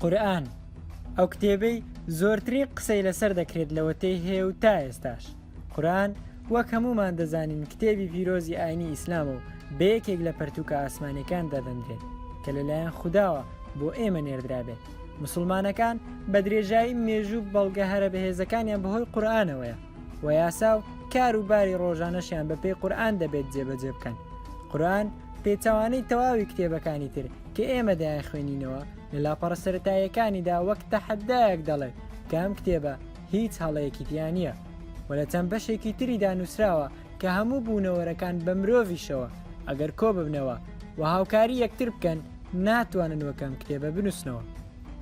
قورئان، ئەو کتێبەی زۆرترین قسەی لەسەر دەکرێت لەوەتەی هەیە و تا ئێستاش. قورئان وەک هەموومان دەزانین کتێبی پیرۆزی ئاینی ئیسلامە و بە یەکێک لە پەرتووکە ئاسمانیەکان دادەنرێت کە لەلایەن خوداوە بۆ ئێمە نێردرابێت. موسڵمانەکان بە درێژایی مێژوو بەڵگە هەرە بەهێزەکانیان بەهۆی قورئانەوەیە. و یاسا و کار و باری ڕۆژانەشیان بەپێی قورآان دەبێت جێبەجێ بکەن قورآن پێچوانەی تەواوی کتێبەکانی تر کە ئێمە دەیان خوێنینەوە لە لاپەڕە سەتاییەکانیدا وەک تەحەدایەک دەڵێت کە ئەم کتێبە هیچ هەڵەیەکی دیانە و لە چەند بەشێکی تریدا نووسراوە کە هەموو بوونەوەرەکان بە مرۆڤیشەوە ئەگەر کۆ ببنەوە و هاوکاری یەکتر بکەن ناتوانن وەکەم کتێبە بنووسنەوە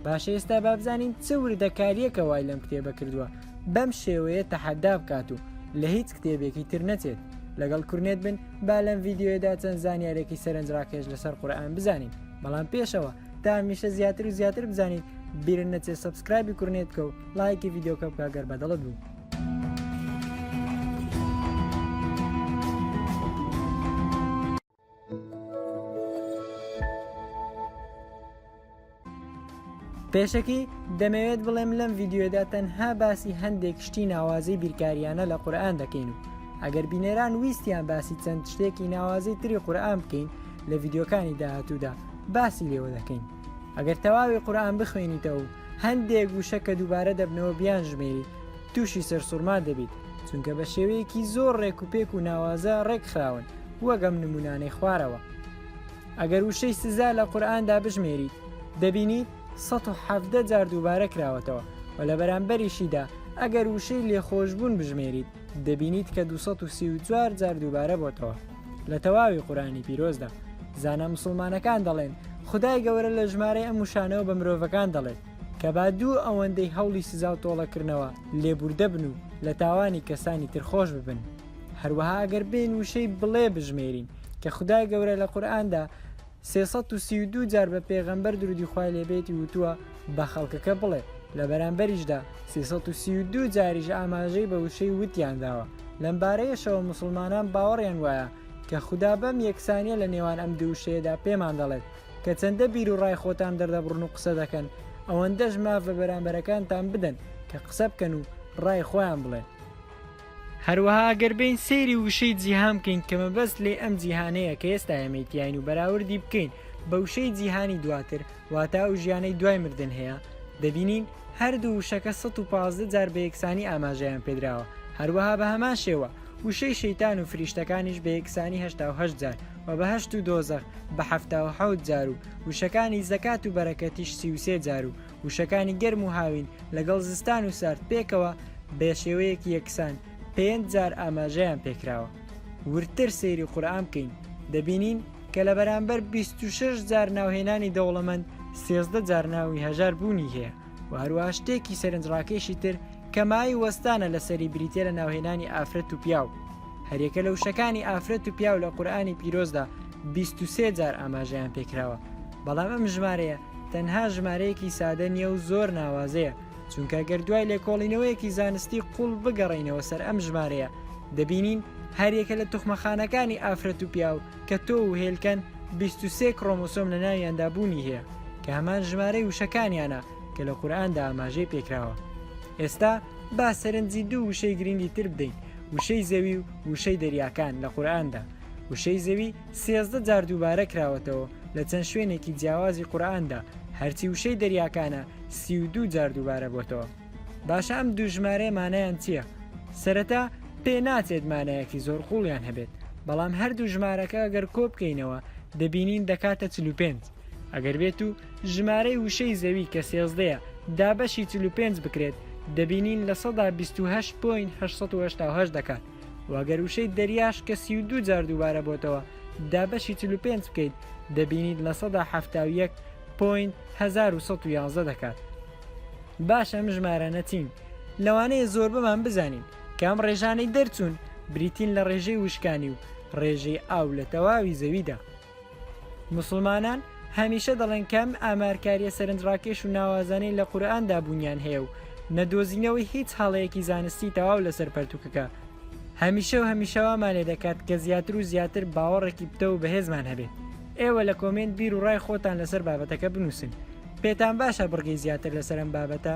باشە ئێستا بابزانین چ وردەکاریەکە وای لەم کتێبە کردووە بەم شێوەیە تەحەدا بکات و لە هیچ کتێبێکی تر نەچێت لەگەڵ کورنێت بن با لەم ڤیددیوەدا چەند زانیارێکی سەرنجڕاکێش لەسەر قورآان بزانین بەڵام پێشەوە تا میشە زیاتر و زیاتر بزانین بیرن نەچێ سبسکرایبی کورنێت بکە و لایکی یددیوکە بکە گەر بەدەڵت بوو. پێشەکی دەمەوێت بڵێم لەم ڤیددیوێدا تەنها باسی هەندێک شتی ناوازەی بیرکاریانە لە قورآان دەکەین و ئەگەر بینێران ویستیان باسی چەند شتێکی ناوازەی تری قورآان بکەین لە ڤیددیوکانی داهاتوودا باسی لێوە دەکەین ئەگەر تەواوی قورآان بخوێنیتەوە و هەندێک وشە کە دووبارە دەبنەوە بیان ژمێری تووشی سەرسوورما دەبیت چونکە بە شێوەیەکی زۆر ڕێک و پێک و ناوازە ڕێکخراون وەک ئەم نمونانەی خوارەوە. ئەگەر وشەی سزا لە قورئاندا بژمێریت دەبینیت ١٧٠ جار دووبارە کراوەتەوە و لە بەرامبەریشیدا ئەگەر وشەی لێخۆشبوون بژمێریت دەبینیت کە ٢٣٤ جار دووبارە بۆتەوە لە تەواوی قورئانی پیرۆزدا زانا مسوڵمانەکان دەڵێن خودای گەورە لە ژمارەی ئەم وشانەوە بە مرۆڤەکان دەڵێت کە با دوو ئەوەندەی هەوڵی سزا و تۆڵەکردنەوە لێبوردە بن و لە تاوانی کەسانی تر خۆش ببن هەروەها ئەگەر بێن وشەی بڵێ بژمێرین کە خدای گەورە لە قورآاندا 332 جار بە پێغەمبەر درودی خی لێبێتی وتووە بە خەڵکەکە بڵێ لە بەرامبەریشدا 332 جاریش ئاماژەی بە وشەی وتیان داوە لەم بارەیەشەوە مسلمانان باوەڕیان وایە کە خوددا بەم یەکسانیە لە نێوان ئەم دووشەیەدا پێمان دەڵێت کە چەندە بیر و ڕای خۆتان دەردەبڕن و قسە دەکەن ئەوەندەش ماف بە بەرامبەرەکانتان بدەن کە قسە بکەن و ڕای خۆیان بڵێن هەروەها گەر بێین سەیری وشەی جیهان بکەین کە مەبەست لێ ئەم جیهانەیە کە ئێستا ئێمەی تیاین و بەراوردی بکەین بە وشەی جیهانی دواتر واتا ئەو ژیانەی دوای مردن هەیە دەبینین هەردوو وشەکە 115 جار بە یەکسانی ئاماژەیان پێدراوە هەروەها بە هەمان شێوە وشەی شەیتان و فریشتەکانیش بە یەکسانی هەشتا و هەشت جار و بە هەشت و دۆزەخ بە حەفتا و حەوت جار و وشەکانی زەکات و بەرەکەتیش سی و سێ جار و وشەکانی گەرم و هاوین لەگەڵ زستان و سارد پێکەوە بێ شێوەیەکی یەکسان پێنج جار ئاماژەیان پێکراوە وردتر سەیری قورآان بکەین دەبینین کە لە بەرامبەر 26 جار ناوهێنانی دەوڵەمەند سێزدە جار ناوی هەژار بوونی هەیە و هەروە شتێکی سەرنجڕاکێشی تر کەمایی وەستانە لە سەری بریتە لە ناوهێنانی ئافرەت و پیاو هەرێکە لە وشەکانی ئافرەت و پیاو لە قورآانی پیرۆزدا 23 جار ئاماژەیان پێکراوە بەڵام ئەم ژمارەیە تەنها ژمارەیەکی سادە نییە و زۆر ناوازەیە چونکە گەر دوای لێکۆڵینەوەیەکی زانستی قوڵ بگەڕینەوە سەر ئەم ژمارەیە دەبینین هەریەکە لە توخمەخانەکانی ئافرەت و پیاو کە تۆ و هێلکەن 23 کرۆمۆسۆم لە ناویاندا بوونی هەیە کە هەمان ژمارەی وشەکانیانە کە لە قورآاندا ئاماژەی پێکراوە ئێستا با سەرنجی دوو وشەی گرنگی تر بدەین وشەی زەوی و وشەی دەریاکان لە قورآاندا وشەی زەوی سێزدە جار دووبارە کراوەتەوە لە چەند شوێنێکی جیاوازی قورئاندا، هەرچی وشەی دەریاکانە سی و دوو جار دووبارە بۆتەوە. باشە ئەم دوو ژمارەیە مانایان چییە؟ سەرەتا پێ ناچێت مانایەکی زۆر قووڵیان هەبێت، بەڵام هەردوو ژمارەکە گەر کۆ بکەینەوە دەبینین دەکاتە چل و پێنج. ئەگەر بێت و ژمارەی وشەی زەوی کە سێزدەیە دابەشی چل و پێنج بکرێت دەبینین لە سەدا بیست و هەشت پۆینت هەشت سەد و هەشتا و هەشت دەکات. و ئەگەر وشەی دەریاش کە سی و دوو جار دووبارە بۆتەوە دابەشی چل و پێنج بکەیت دەبینیت لە سەدا حەفتا و یەک پۆینت هەزار و سەد و یازدە دەکات باش ئەم ژمارانە چین لەوانەیە زۆربەمان بزانین کە ئەم ڕێژانەی دەرچوون بریتین لە ڕێژەی وشکانی و ڕێژەی ئاو لە تەواوی زەویدا موسڵمانان هەمیشە دەڵێن کە ئەم ئامارکارییە سەرنجڕاکێش و ناوازانەی لە قورئاندا بوونیان هەیە و نەدۆزینەوەی هیچ هەڵەیەکی زانستی تەواو لەسەر پەرتووکەکە هەمیشە و هەمیشە وامان لێ دەکات کە زیاتر و زیاتر باوەڕێکی پتەو و بەهێزمان هەبێت ئێوە لە کۆمێنت بیر و ڕای خۆتان لەسەر بابەتەکە بنووسن پێتان باشە بڕگەی زیاتر لەسەر ئەم بابەتە